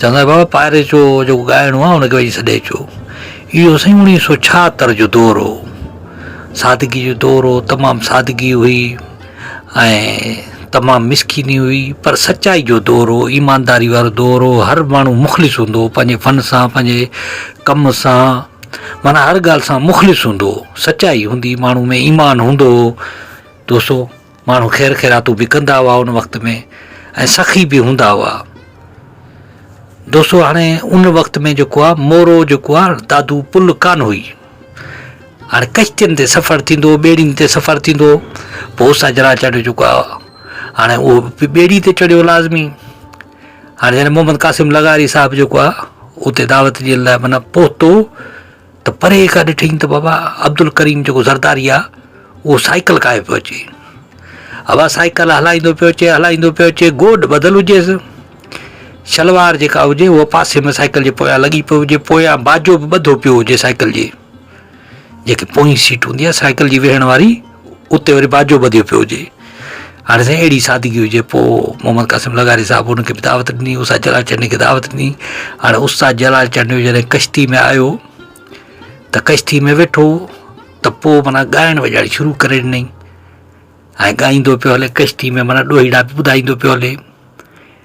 چوندو آهي بابا پاري چو جيڪو ڳائڻو آهي ان کي وڃي سڏي اچو اهو سائين اوڻيهه سو ڇاهتر جو دور هو سادگي جو دور هو تمام سادگي هئي ۽ تمام مسڪيني هئي پر سچائي جو دور هو ايمانداري وارو دور هو هر ماڻهو مخلص هوندو هو پنهنجي فن سان پنهنجي ڪم سان مانا هر ڳالهه سان مخلص هوندو هو سچائي هوندي ماڻهو ۾ ايمان هوندو هو دوستو ماڻهو خير خيراتون به ڪندا هئا ان وقت ۾ ۽ سخي به هوندا هئا دوستو هاڻي ان وقت ۾ جيڪو آ مورو جيڪو آ دادو پل ڪان هئي هاڻي ڪشتين تي سفر ٿيندو ٻيڙين تي سفر ٿيندو پوء سجرا چڙهيو جيڪو آ هاڻي اهو به ٻيڙي تي چڙهيو لازمي هاڻي جڏهن محمد قاسم لغاري صاحب جيڪو آ اتي دعوت جي لاء منا پهتو ته پري کان ڏٺئين ته بابا عبدالڪريم جيڪو زرداري آ اهو سائيڪل ڪاهي پيو اچي ابا سائيڪل هلائيندو پيو اچي هلائيندو پيو اچي گوڏ ٻڌل هجيس شلوار جيڪا هجي اها پاسي ۾ سائيڪل جي پويان لڳي پيو هجي پويان باجو به ٻڌو پيو هجي سائيڪل جي جيڪي پوئين سيٽ هوندي آ سائيڪل جي ويهڻ واري اتي وري باجو ٻڌيو پيو هجي. هاڻي سائين اهڙي سادگي هجي. پوء محمد قاسم لغاري صاحب ان کي به دعوت ڏني، استاد جلال چنڊي کي دعوت ڏني. هاڻي استاد جلال چنڊيو جڏهن ڪشتي ۾ آيو ته ڪشتي ۾ ويٺو ته پوء معنيٰ ڳائڻ وڄائڻ شروع ڪري ڏنائين ۽ ڳائيندو پيو هلي ڪشتي ۾ معنيٰ ڏوهيڙا به ٻڌائيندو پيو هلي.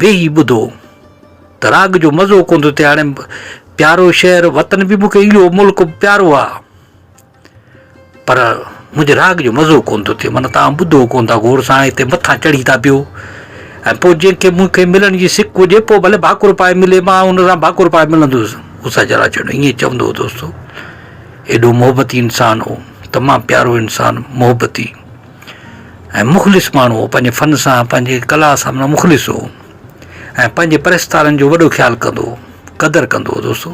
ويهي ٻڌو ته راڳ جو مزو ڪون ٿو ٿئي هاڻي پيارو شهر وطن به مونکي اهو ملڪ به پيارو آ پر منهنجي راڳ جو مزو ڪون ٿو ٿئي معنيٰ توهان ٻڌو ڪون ٿا غور سان هتي مٿان چڙهي ٿا پيو ۽ پوء جنهنکي مونکي ملڻ جي سڪ هجي پوء ڀلي ڀاڪر پائي ملي مان ان سان ڀاڪر پائي ملندس اسا جرا چيو ائين چوندو هو دوستو ايڏو محبتي انسان هو تمام پيارو انسان محبتي ۽ مخلص ماڻهو هو، پنهنجي فن سان، پنهنجي ڪلا سان معنيٰ مخلص هو ۽ پنهنجي پرستارن جو وڏو خيال ڪندو هو، قدر ڪندو هو دوستو.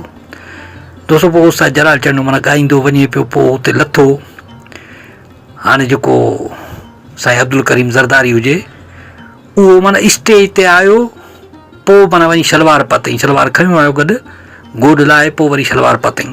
دوستو پوء استاد جلال چنڊ معنيٰ ڳائيندو وڃي پيو، پوء اتي لٿو. هاڻي جيڪو سائين عبدالڪريم زرداري هجي، اهو معنيٰ اسٽيج تي آيو، پوء معنيٰ وڃي شلوار پاتائين، شلوار کنيو آيو گڏ، گوڏ لاهي پوء وري شلوار پاتائين.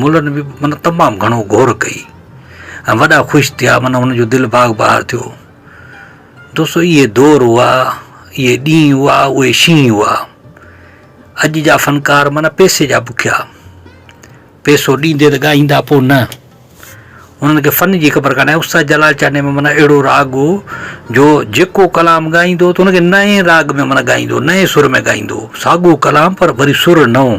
ملن به من تمام گهڻو غور ڪئي ۽ وڏا خوش ٿيا من هن جو دل باغ بهار ٿيو دوستو اهي دور هئا اهي ڏينهن هئا اهي شينهن هئا اڄ جا فنڪار من پيسي جا بکيا پيسو ڏيندي ته ڳائيندا پو نه انهن کي فن جي خبر ڪانه استاد جلال چاني ۾ من اهڙو راڳ هو جو جيڪو کلام ڳائيندو ته انکي نئين راڳ ۾ من ڳائيندو نئين سر ۾ ڳائيندو ساڳو کلام پر وري سر نئون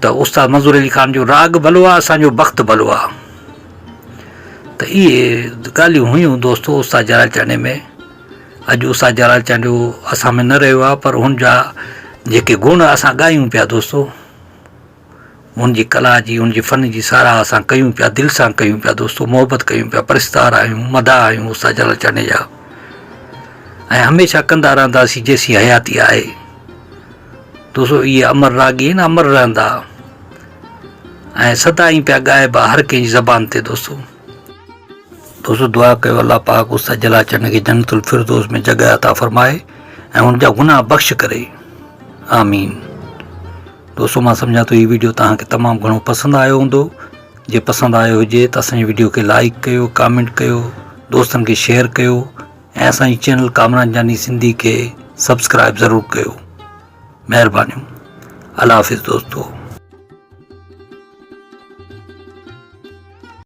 ته استاد منظور علي خان جو راڳ ڀلو آ اسان جو بخت ڀلو آ ته اهي ڳالهيون هيون دوستو استاد جلال چانڊيي ۾ اڄ استاد جلال چانڊيو اسان ۾ نه رهيو آ پر هن جا جيڪي گڻ اسان ڳايون پيا دوستو ان جي ڪلا جي ان جي فن جي ساراهه اسان ڪيون پيا دل سان ڪيون پيا دوستو محبت ڪيون پيا پرستار آهيون مداح آهيون استاد جلال چانڊيي جا ۽ هميشه ڪندا رهنداسين جيسين حياتي آهي تو سو اهي امر راڳي آهن امر رهندا ۽ سدائين پيا ڳائبا هر ڪنهن جي زبان تي دوستو دوستو دعا ڪيو الله پاڪ استاد جلا چنڊ کي جنت الفردوس ۾ جڳهه عطا فرمائي ۽ هن جا گناهه بخش ڪري آمين دوستو مان سمجهان ٿو هي ويڊيو توهان کي تمام گهڻو پسند آيو هوندو جي پسند آيو هجي ته اسان جي ويڊيو کي لائڪ ڪيو ڪامينٽ ڪيو دوستن کي شيئر ڪيو ۽ اسان جي چينل ڪامران جاني سنڌي کي سبسڪرائب ضرور ڪيو مهربانيون الله حافظ دوستو.